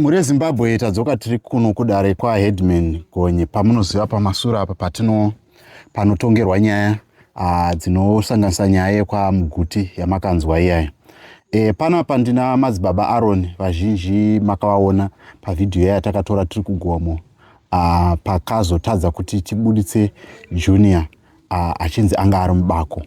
Mhuri yeZimbabwe tadzoka tiri kuno kudare kwaHeadman Gonye pamunoziva pamasura apa patino panotongerwa nyaya ah, dzinosanganisa nyaya yekwaMuguti yamakanzwa iyayo. E, panapa ndina madzibaba Aaron vazhinji makavaona pavhidhiyo yaya takatora tiri kugomo ah, pakazotadza kuti tibuditse Junior achinzi anga ari mubako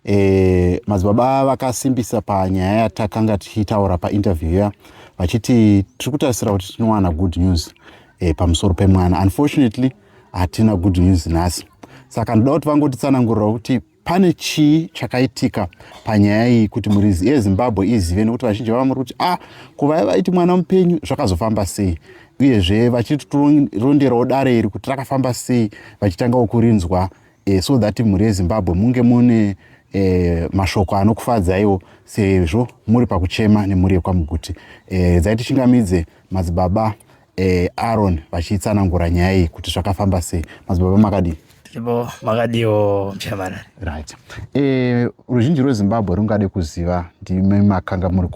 e, madzibaba vakasimbisa panyaya yatakanga tichitaura painterview ya vachiti tiri kutarisira kuti tinowana good news e, pamusoro pemwana unfortunately hatina good news nhasi saka ndoda kuti vangotitsanangurira kuti pane chii chakaitika panyaya iyi kuti murizi yezimbabwe izive nekuti vazhinji vava muri kuti ah kuvaya vaiti mwana mupenyu zvakazofamba sei uyezve vachitironderawo dare iri kuti rakafamba sei vachitangawo kurinzwa eh, so that mhuri yezimbabwe munge mune eh, mashoko anokufadzaiwo sezvo muri pakuchema nemhuri yekwamuguti eh, dzai tichingamidze madzibaba eh, aron vachiitsanangura nyaya iyi kuti zvakafamba sei madzibaba makadii ivo makadiwo mchairman right eh ruzhinji rwezimbabwe rungade kuziva ndime makanga muri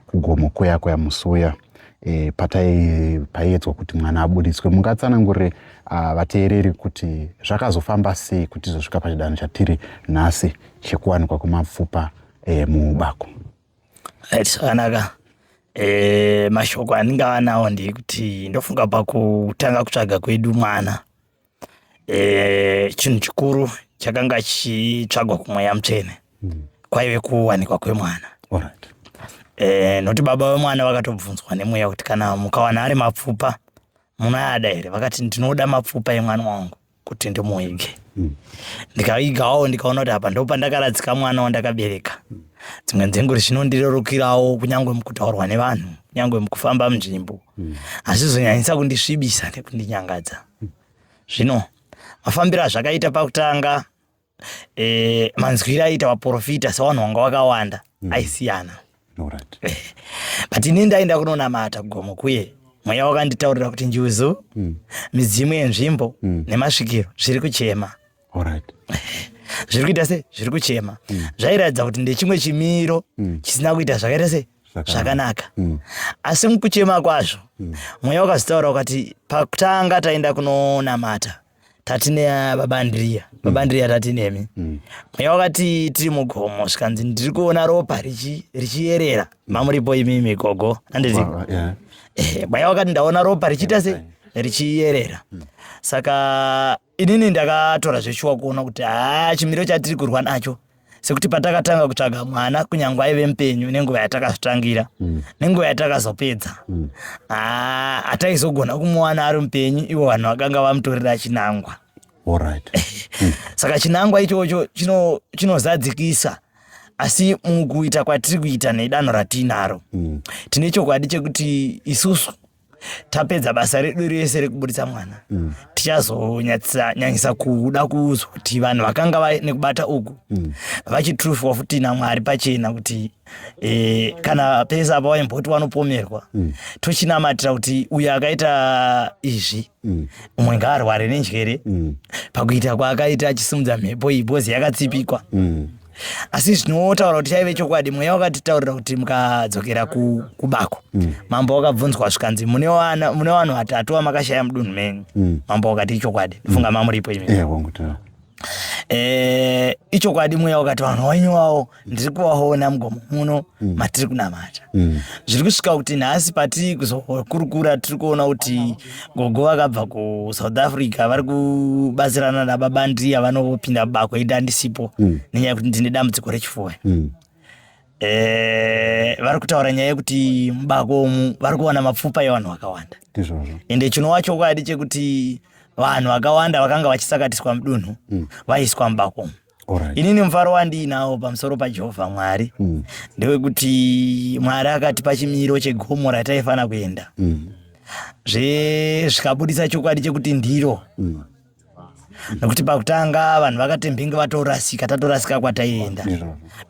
kugomo kuya kuya musi uya e, patai paiedzwa kuti mwana abuditswe mungatsanangurire ah, vateereri uh, kuti zvakazofamba sei kuti tizosvika pachidanho chatiri nhasi chekuwanikwa kwemapfupa e, muubako zvakanaka e, mashoko andingava nawo ndekuti ndofunga pakutanga kutsvaga kwedu mwana e, chinhu chikuru chakanga chichitsvagwa kumweya mutsvene mm. kwaive kuwanikwa kwemwana right. e, eh, noti baba vemwana vakatobvunzwa nemweya kuti kana mukawana ari mapfupa munoyada here vakati ndinoda mapfupa emwana wangu kuti ndimuige mm. ndikaigawo ndikaona kuti apa ndo pandakaradzika mwana wandakabereka mm. dzimwe nzenguri zvinondirerukirawo kunyange mukutaurwa nevanhu kunyange mukufamba munzvimbo mm. hazvizonyanyisa kundisvibisa nekundinyangadza Zvino mafambiro azvakaita pakutanga eh, manzwiro aiita vaprofita sevanhu vanga vakawanda mm. aisiyana right. Eh, but ini ndaenda kunonamata gomo kuye mweya wakanditaurira kuti njuzu mm. midzimu yenzvimbo mm. nemasvikiro zviri kuchema Alright. zviri kuita se zviri kuchema mm. zvairatidza kuti ndechimwe chimiro mm. chisina kuita zvakaita se zvakanaka mm. asi mukuchema kwazvo mm. mweya wakazitaura ukati pakutanga taenda kunonamata tati nebabandiriya mm. babandiriya tati nemi mm. mweya mm. wakati tiri mugomo zvikanzi ndiri kuona ropa richiyerera mm. mamuripo imi migogo anditi wow, yeah. eh, mweya wakati ndaona ropa richiita se richiyerera mm. saka inini ndakatora zveshuwa kuona kuti haa chimiro chatiri kurwa nacho sekuti patakatanga kutsvaga mwana kunyange aive mupenyu nenguva yatakazvitangira mm. nenguva yatakazopedza mm. haa hataizogona kumuwana ari mupenyu ivo vanhu vakanga vamutorera chinangwa right. mm. saka chinangwa ichocho chinozadzikisa chino asi mukuita kwatiri kuita nedanho ratiinaro mm. tine chokwadi chekuti isusu tapedza basa redu rese rekuburitsa mwana mm. tichazonyanyisa kuda kuzwa kuti vanhu vakanga vaine kubata uku mm. vachitrufwa futi namwari pachena kuti e, kana pese apa vaimboti vanopomerwa mm. tochinamatira kuti uyo akaita izvi mm. umwe ngaarware nenjere mm. pakuita kwaakaita achisimudza mhepo iyi bhozi yakatsipikwa mm. asi zvinotaura kuti chaive chokwadi mweya wakatitaurira kuti mukadzokera kubako mm. mambo wakabvunzwa zvikanzi mune vanhu vatatu vamakashaya mudunhu menyu mm. mambo wakati ichokwadi mm. funga mamuripo imi eh, eh, ichokwadi mweya wakati vanhu wenyu wavo ndiri kuvaona mugomo muno matiri kunamata zviri kusvika kuti nhasi patiri kuzokurukura tiri kuona kuti gogo vakabva kusouth africa vari kubatsirana nababa ndiya vanopinda bako ida andisipo mm. nenyaya yekuti ndine dambudziko rechifuwa mm. Eh, vari kutaura nyaya yekuti mubako umu vari kuwana mapfupa evanhu vakawanda ende chinova chokwadi chekuti vanhu vakawanda vakanga vachisakatiswa mudunhu mm. vaiswa mubako umu Alright. inini mufaro wandiinawo pamusoro pajehovha mwari mm. ndewekuti mwari akatipa chimiro chegomo rataifanira kuenda mm. zve zvikabudisa chokwadi chekuti ndiro mm. nokuti pakutanga vanhu vakatembenge vatorasika tatorasika kwataienda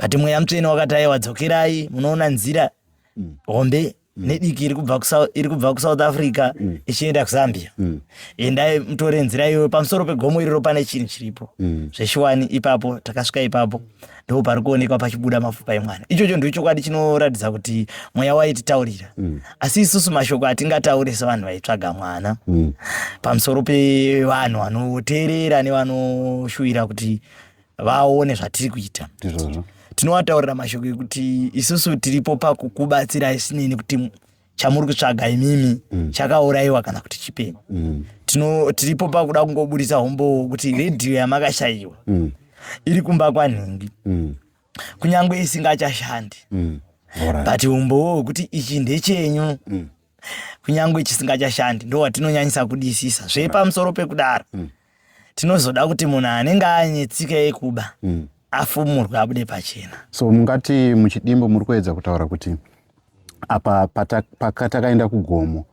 but mweya mutsvene wakati aiwa dzokerai munoona nzira mm. hombe Mm. nediki iri kubva iri kubva kusouth africa mm. ichienda kuzambia mm. endai mutore nzira iyoyo pamusoro pegomo iriro pane chinhu chiripo zveshuwani ipapo takasvika ipapo ndo pari kuonekwa pachibuda mapfupa emwana ichocho ndo chokwadi chinoratidza kuti mweya waititaurira asi isusu mashoko atingataure sevanhu vaitsvaga mwana pamusoro pevanhu vanoteerera nevanoshuvira kuti vaone zvatiri kuita ndizvozvo tinovataurira mashoko ekuti isusu tiripo pakukubatsirai sinei nekuti chamuri kutsvaga imimi mm. chakaurayiwa kana kuti chipeni mm. tino tiripo pakuda kungoburitsa hombowo kuti redhiyo yamakashayiwa mm. iri kumba kwanhingi mm. kunyange isingachashandi mm. but umbowo wekuti ichi ndechenyu mm. kunyange chisingachashandi ndo watinonyanyisa kudisisa zvepamusoro pekudaro mm. tinozoda kuti munhu anenge ane tsika yekuba mm. afumurwe abude pachena so mungati muchidimbo muri kuedza kutaura kuti apa patakaenda kugomo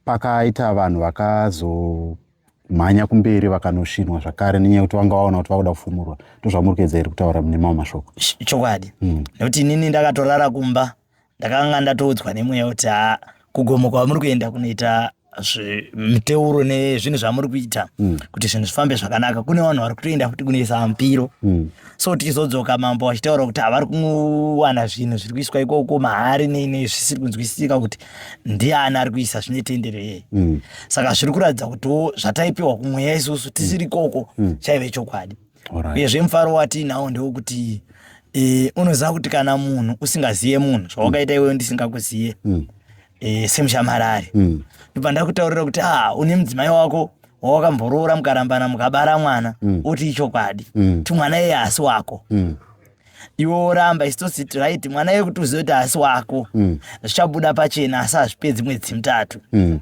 pakaita vanhu vakazomhanya kumberi vakanoshinwa zvakare nenyaya yekuti vanga vaona kuti vakuda kufumurwa ndozvamuri kuedza iri kutaura nemamwe mashoko chokwadi mm. nekuti inini ndakatorara kumba ndakanga ndatoudzwa nemweya kuti ha kugomo kwamuri kuenda kunoita miteuro nezvinhu zvamuri kuita mm. kuti zvinhu zvifambe zvakanaka kune vanhu vari kutoenda futi kunoisa mupiro mm. so tichizodzoka mambo vachitaura kuti havari kuwana zvinhu zviri kuiswa ikoko mahari nene zvisiri kunzwisisika kuti ndiani ari kuisa zvine tendero yeye mm. saka zviri kuratidza kutiwo zvataipiwa kumweya isusu tisiri ikoko chaive chokwadi uyezve mufaro watiinawo ndewokuti e, unoziva kuti kana munhu usingazive munhu zvawakaita iwewe ndisingakuzive mm. e, semushamarari mm. ndobva ndakutaurira kuti a une mudzimai wako wawakamboroora mukarambana mukabara mwana mm. oti ichokwadi mm. timwana iye asi wako mm. iwe woramba isu tositi right mwana iye kuti uzive kuti haasi wako mm. zvichabuda pachena asi hazvipedzi mwedzi mitatu mm.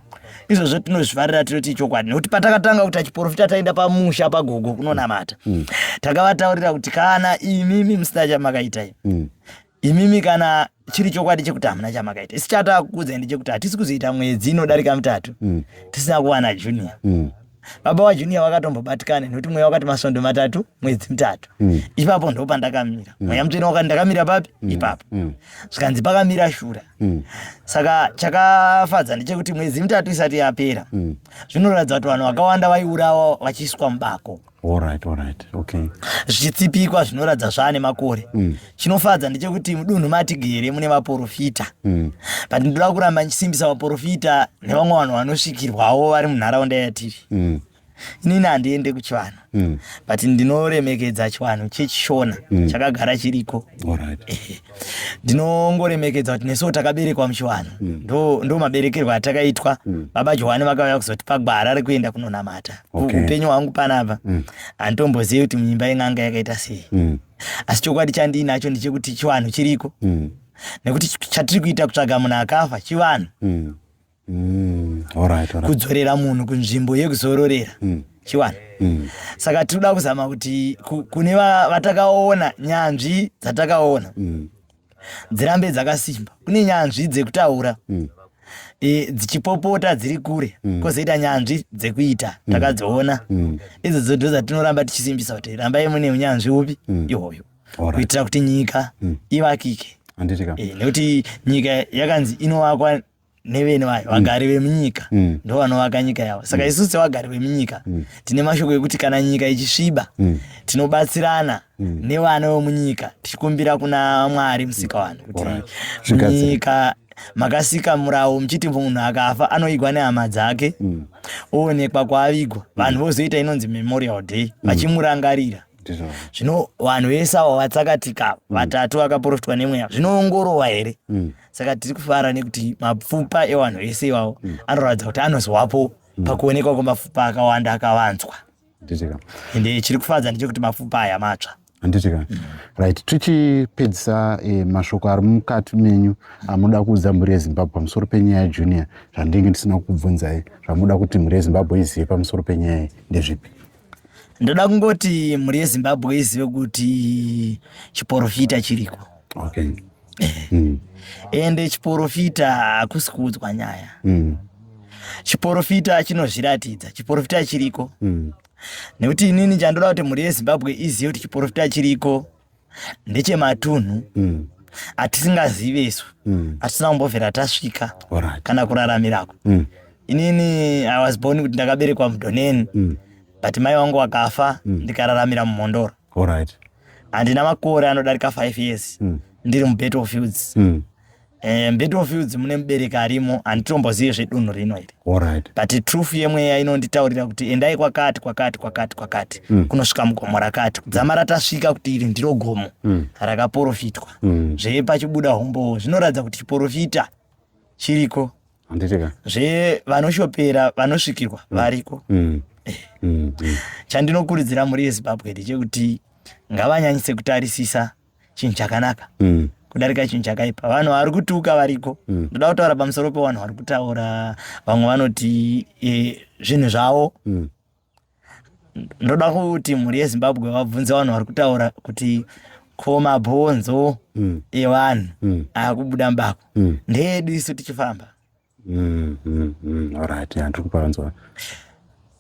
izvozvo tinozvifarira tinoti ichokwadi nekuti patakatanga kuita chiporofita taenda pamusha pagogo kunonamata mm. takavataurira kuti kana imimi musina chamakaitai imimi kana chiri chokwadi chekuti hamuna chamakaita isi chatakukudzai ndechekuti hatisi kuzoita mwedzi inodarika mitatu tisina kuwana junior baba wajunior wakatombobatikana nekuti mweya wakati masvondo matatu mwedzi mitatu mm. ipapo ndo pandakamira mm. mweya mutsvene wakati ndakamira papi mm. ipapo mm. zvikanzi pakamira shura mm. saka chakafadza ndechekuti mwedzi mitatu isati yapera mm. zvinoratidza kuti vanhu vakawanda vaiurawa vachiiswa mubako zvichitsipikwa zvinoratidza zvaane makore mm. chinofadza ndechekuti mudunhu matigere mune vaporofita mm. but ndoda kuramba ndichisimbisa vaporofita nevamwe vanhu vanosvikirwawo vari munharaunda yatiri mm. inini handiende kuchivanhu mm. but ndinoremekedza chivanhu chechishona mm. chakagara chiriko ndinongoremekedza kuti nesuwo takaberekwa muchivanhu mm. ndo, ndo maberekerwo atakaitwa mm. baba johani vakauya kuzotipa gwara rekuenda kunonamata okay. upenyu hwangu panapa mm. handitombozivi kuti munyimba in'anga yakaita sei mm. asi chokwadi chandiinacho ndechekuti chivanhu chiriko mm. nekuti chatiri kuita kutsvaga munhu akafa chivanhu mm. mm. right, right. kudzorera munhu kunzvimbo yekuzororera mm. chivanhu mm. saka tiri kuda kuzama kuti kune vatakaona nyanzvi dzatakaona mm. dzirambe dzakasimba kune nyanzvi dzekutaura mm. e, dzichipopota dziri kure mm. kozoita nyanzvi dzekuita mm. takadziona mm. idzodzo ndo dzatinoramba tichisimbisa kuti rambai mune unyanzvi upi mm. ihoyo right. kuitira kuti nyika mm. ivakike e, nekuti nyika yakanzi inovakwa nevene vayo mm. vagari vemunyika mm. ndo vanovaka nyika yavo saka mm. isusu sevagari vemunyika tine mashoko ekuti kana nyika ichisviba tinobatsirana nevana vemunyika tichikumbira kuna mwari musika vanhu kuti nyika makasika murawo muchiti munhu akafa anoigwa nehama dzake oonekwa kwaavigwa vanhu vozoita inonzi memorial day vachimurangarira zvino vanhu vese avo vatsakatika vatatu vakaprofitwa nemweya zvinoongorova here saka tiri kufara nekuti mapfupa ewanhu ese iwawo mm. anoratidza kuti anozowapo mm. pakuonekwa kwemapfupa akawanda akawanzwa ende chiri kufadza ndechekuti mapfupa aya matsva handitika mm. right tichipedzisa eh, mashoko ari mukati menyu amuda kuudza mhuri yezimbabwe pamusoro penyaya yejunior zvandinge ndisina kubvunzai zvamuda kuti mhuri yezimbabwe izive pamusoro penyaya iyi ndezvipi ndoda kungoti mhuri yezimbabwe izive kuti chiporofita chiriko okay. mm. ende chiporofita hakusi kuudzwa nyaya mm. chiporofita chinozviratidza chiporofita chiriko mm. nekuti inini chandoda kuti mhuri yezimbabwe izive kuti chiporofita chiriko ndechematunhu mm hatisingazive isu mm. hatisina kumbovhera tasvika kana kuraramirako mm. inini i was born kuti ndakaberekwa mudhoneni mm. but mai wangu wakafa ndikararamira mumhondoro Alright. Handina makore anodarika 5 years mm. ndiri mubattlefields mm. Eh, mbattlefields mune mubereki arimo handitombozive zvedunhu rino iri Alright. but truth yemweya inonditaurira kuti endai kwakati kwakati kwakati kwakati mm. kunosvika mugomo rakati kudzama ratasvika kuti iri ndiro gomo mm. rakaporofitwa mm. zvepachibuda hombowo zvinoratidza kuti chiporofita chiriko handitika zve vanoshopera vanosvikirwa mm. variko mm. Eh. Mm, chandinokurudzira mhuri yezimbabwe ndechekuti ngavanyanyise kutarisisa chinhu chakanaka kudarika chinhu chakaipa vanhu vari kutuka variko ndoda kutaura pamusoro pevanhu vari kutaura vamwe vanoti eh, zvinhu zvavo ndoda kuti mhuri yezimbabwe vabvunze vanhu vari kutaura kuti ko mabhonzo mm. evanhu mm. akubuda mbako mm. ndeedu isu tichifamba mm, mm, mm. orit andiri kupanzwa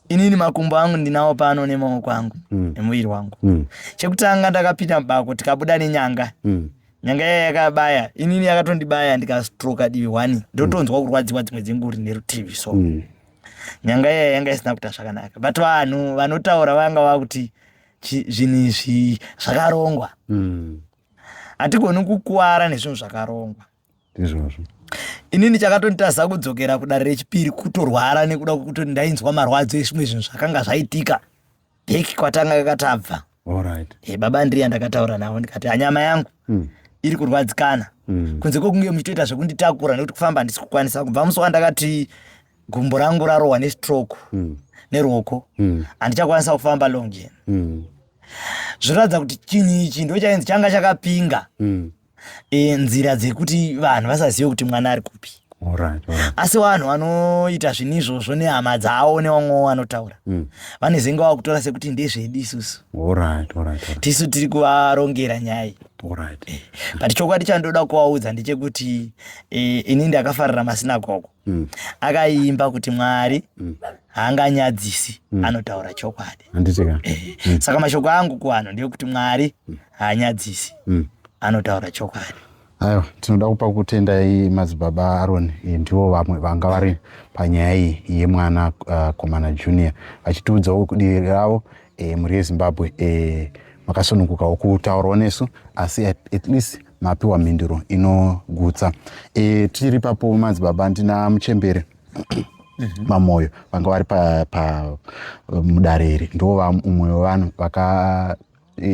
inini makumbo angu ndinawo pano nemaoko angu mm. nemuviri wangu mm. chekutanga ndakapinda mubako tikabuda nenyanga mm. nyanga yaya yakabaya inini yakatondibaya ndikastroka divi one ndotonzwa mm. kurwadziwa dzimwe dzenguri nerutivi so mm. nyanga iya yanga isina kuita zvakanaka but vanhu vanotaura vanga vakuti zvinhu izvi zvakarongwa mm. hatigoni mm. kukuwara nezvinhu zvakarongwa izvozvo inini chakatonitadza kudzokera kudare rechipiri kutorwara nekuda kwekuti ndainzwa marwadzo ezvimwe zvinhu zvakanga zvaitika bheki kwatanga kakatabva right. hey, eh, baba ndriya ndakataura navo ndikati anyama yangu mm. iri kurwadzikana mm. kunze kwekunge muchitoita zvekunditakura nekuti kufamba handisi kukwanisa kubva musi wandakati gumbo rangu rarohwa nestroke mm. neruoko mm. handichakwanisa mm. kufamba longen mm. zviratidza kuti chinhu ichi ndo chainzi changa chakapinga mm. e, nzira dzekuti vanhu vasazive kuti mwana ari kupi asi vanhu vanoita zvinhu izvozvo nehama dzavo nevamwewo vanotaura mm. vanezenge wava kutora sekuti ndezvedu isusu tisu tiri kuvarongera nyaya iyi eh, but chokwadi chandoda kuvaudza ndechekuti eh, ini ndakafarira masinagogo mm. akaimba kuti mwari mm. haanganyadzisi mm. anotaura chokwadi eh, mm. saka mashoko angu kuvanhu ndeyekuti mwari mm. haanyadzisi mm. anotaura chokwadi aiwa tinoda kupa kutendai madzibaba aroni eh, ndivo vamwe vanga vari panyaya iyi yemwana uh, komana junior vachitiudzawo kudiri ravo e, mhuri yezimbabwe e, makasunungukawo kutaurawo nesu asi at, at least mapiwa mhinduro inogutsa e, tiri papo madzibaba ndina muchembere mhm. mamoyo vanga vari pamudare pa, iri ndo umwe wevanhu vaka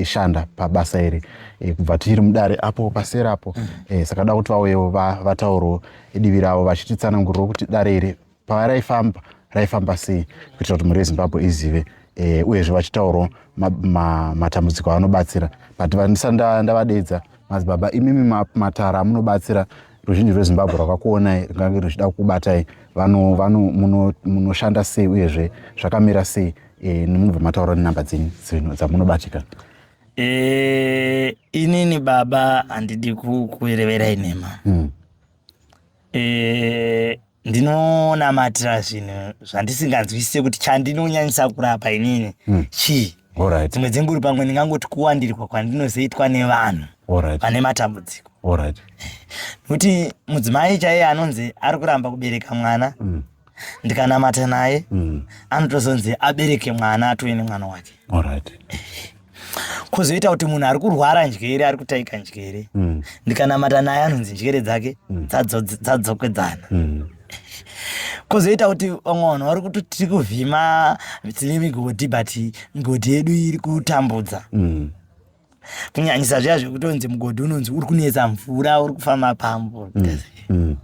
shanda pabasa iri e, kubva tiri mudare apo pasera apo e, saka da kuti vauyewo vataurwo divi ravo vachititsananguriro kuti dare iri pavaraifamba raifamba sei kuitira kuti mhuri yezimbabwe izive eh, uyezve vachitaurwa matambudziko avanobatsira but vandisa ndavadeedza mazi baba imimi matara amunobatsira ruzhinji rwezimbabwe rwakakuonai rwungange ruchida kukubatai munoshanda sei uyezve zvakamira sei eh, nemunobva mataura nenhamba dzenyu dzamunobatikana eh, inini baba handidi kukureverai nhema hmm. ndinonamatira zvinhu zvandisinganzwisise kuti chandinonyanyisa kurapa inini hmm. chii right. dzimwe dzenguri pamwe ndingangoti kuwandirwa kwandinozoitwa nevanhu right. vane matambudziko right. nokuti mudzimai chaiye anonzi ari kuramba kubereka mwana mm. ndikanamata naye mm. anotozonzi abereke mwana atove nemwana wake right. kwozoita kuti munhu ari kurwara njere ari kutaika njere mm. ndikanamata naye anonzi njere dzake mm. dzadzokwedzana mm. kwozoita kuti vamwe vanhu vari kuti tiri kuvhima tine migodhi but migodhi yedu iri kutambudza mm. kunyanyisa zviya zvekutonzi mugodhi unonzi uri kunetsa mvura uri kufamba pambo mm. mm.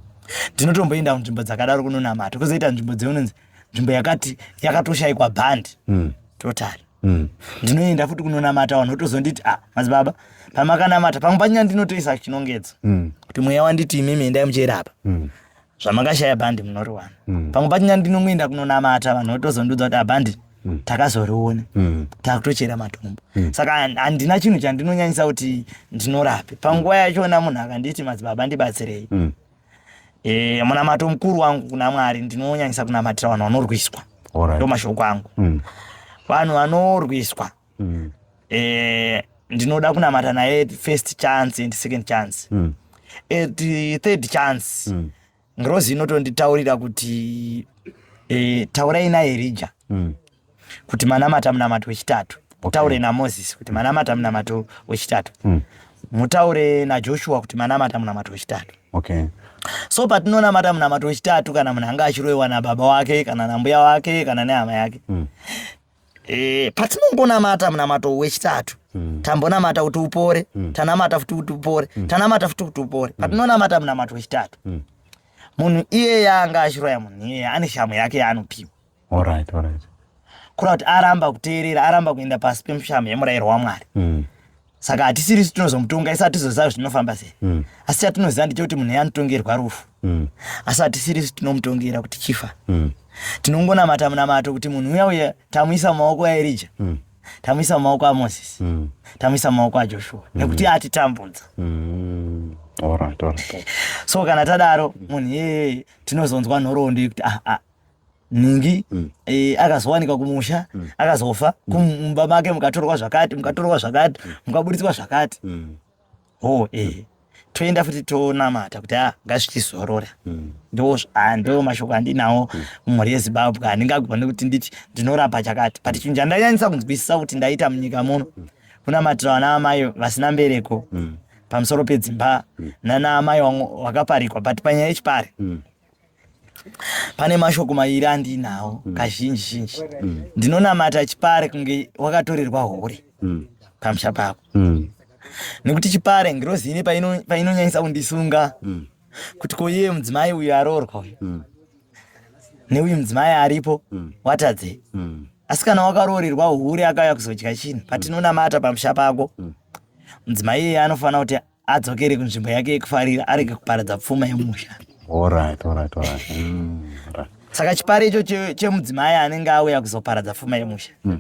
ndinotomboenda mm. kunzvimbo dzakadaro kunonamata kwozoita nzvimbo dzeunonzi nzvimbo yakati yakatoshaikwa bhandi mm. totari mm. ndinoenda futi kunonamata vanhu votozonditi ah madzibaba pamakanamata pamwe panyaya ndinotoisa chinongedzo mm. kuti mweya wanditi imimi endai muchirapa mm. zvamakashaya bhandi munoriwana mm. pamwe panyaya ndinongoenda kunonamata vanhu votozondiudza kuti abhandi ah, mm. takazoriona mm. takutochera matombo mm. saka handina chinhu chandinonyanyisa kuti ndinorape panguva yachona munhu akanditi madzibaba ndibatsirei mm. e, munamato mukuru wangu kuna mwari ndinonyanyisa kunamatira vanhu vanorwiswa right. ndo mashoko angu mm. vanhu vanorwiswa mm. e, ndinoda kunamata naye first chance and second chance mm. at third chance mm. ngirozi inotonditaurira kuti e, taurai naye rija mm. kuti manamata munamato wechitatu mutaure namozisi kuti manamata munamato wechitatu hmm. mutaure najoshua kuti manamata munamato wechitatu okay so patinonamata munamato wechitatu kana munhu anga achiroiwa nababa wake kana nambuya wake kana nehama yake mm. e, patinongonamata munamato wechitatu mm. tambonamata kuti upore mm. tanamata futi kuti upore mm. tanamata futi kuti upore mm. patinonamata munamato wechitatu mm. munhu iye yaanga achiroya munhu iye ane shamu yake yaanopiwa Alright, alright. Kureva kuti aramba kuteerera, aramba kuenda pasi pemushamo yemurayiro waMwari. Mm. Saka hatisiri su tinozomutonga, isu hatizoziva kuti zvinofamba sei. Mm. Asi chatinoziva ndechekuti munhu anotongerwa rufu. Mm. Asi hatisiri su tinomutongera kuti chifa. Mm. Tinongonamata munamato kuti munhu uya uya tamuisa mumaoko aErija. Mm. Tamuisa mumaoko aMoses. Mm. Tamuisa mumaoko aJoshua. Mm. Nekuti atitambudza. Mm. Alright, alright. so kana tadaro munhu iyeye tinozonzwa nhoroondo yekuti ah, ah, nhingi mm. e, akazowanikwa kumusha mm. akazofa mm. kumumba make mukatorwa zvakati mukatorwa zvakati mm. mukaburitswa zvakati mm. ho e, mm. toenda futi tonamata kuti a ah, ngazvichizorora mm. ndo ah, ndo mashoko andinawo mm. mumhuri mm. yezimbabwe handingagone kuti nditi ndinorapa chakati but chinhu chandanyanyisa kunzwisisa kuti ndaita munyika muno mm. kunamatira vana vamai vasina mbereko mm. pamusoro pedzimba mm. nana amai vakaparikwa but panyaya yechipari mm. pane mashoko mairi andiinawo mm. kazhinji zhinji mm. ndinonamata chipare kunge wakatorerwa hore mm. pamusha pako mm. nekuti chipare ngirozi ine painonyanyisa paino kundisunga mm. kuti ko iye mudzimai uyu aroorwa uyu mm. neuyu mudzimai aripo mm. watadze mm. asi kana wakaroorerwa hure akauya kuzodya chinhu patinonamata pamusha pako mm. mudzimai mm. iyeye anofanira kuti adzokere kunzvimbo yake yekufarira arege kuparadza pfuma yemusha Alright, alright, alright. Mm, alright. saka chipara icho che- chemudzimai anenge auya kuzoparadza pfuma yemusha Mm.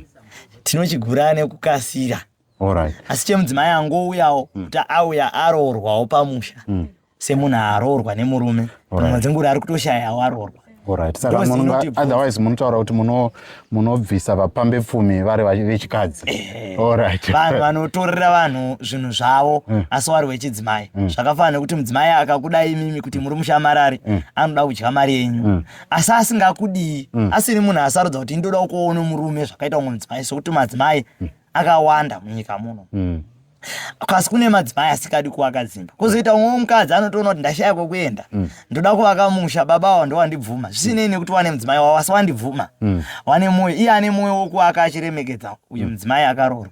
tinochigura nekukasira Alright. asi chemudzimai angouyawo kuti auya aroorwawo pamusha Mm. semunhu aroorwa nemurume Alright. pamwe dzengura ari kutoshayawo aroorwa Alright. Saka Because munhu inoti nga- otherwise munotaura kuti muno- munobvisa vapambe pfumi vari vachi- vechikadzi. Alright. vanhu vanotorera vanhu zvinhu zvavo asi wari wechidzimai zvakafanana nekuti mudzimai akakuda imimi kuti muri mushamarari anoda kudya mari yenyu asi asingakudii asiri munhu asarudza kuti ndoda kuona murume zvakaita umwe mudzimai sokuti madzimai akawanda munyika muno Mm. kasi kune madzimai asikadi kuvaka dzimba kozoita umwe mukadzi anotoona kuti ndashaya kwekuenda mm. ndoda kuvaka musha baba awa ndowandibvuma zvisinei nekuti wane mudzimai wavo asi wandibvuma mm. wane mwoyo iye ane mwoyo wokuvaka achiremekedza uyu mm. mudzimai akaroorwa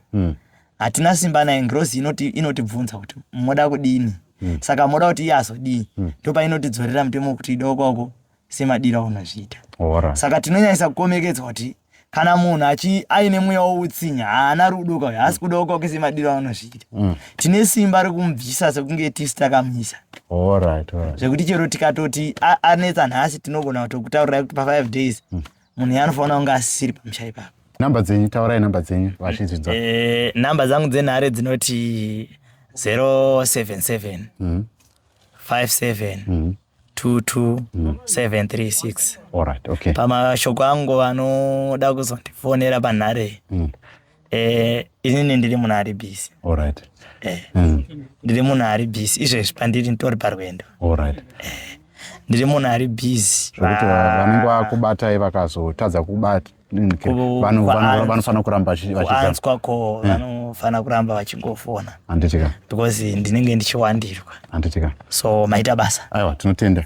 hatina simba naye ngirozi inotibvunza kuti moda kudini saka moda kuti iye azodii ndopainotidzorera mutemo wekuti idokoko semadiro aunozviita Ora. saka tinonyanyisa kukomekedzwa kuti kana munhu achi aine mweya woutsinya haana rudo kauyo haasi kudawo kwake semadiro aunozviita Mm. tine simba rekumubvisa sekunge tisi takamisa Alright, alright. zvekuti chero tikatoti a- anetsa nhasi tinogona kutokutaurirai kuti pa5 days Mm. munhu iye anofanira kunge asisiri pamusha ipapo Number dzenyu, taurai number dzenyu vachizvidza. Eh, namba dzangu dzenhare dzinoti 077 Mhm. 57 Mhm. 22736 mm. alright okay pamashoko angu vanoda kuzondifonera panhare mm. eh inini ndiri munhu ari busy alright eh mm. ndiri munhu ari busy izvezvi pandiri nditori parwendo alright eh ndiri munhu ari busy zvekuti vanenge vakubatai vakazotadza kubata vanofanira kuramba vachianzwa ko hmm. vanofanira kuramba vachingofona handitika because ndinenge ndichiwandirwa handitika so maita basa aiwa tinotenda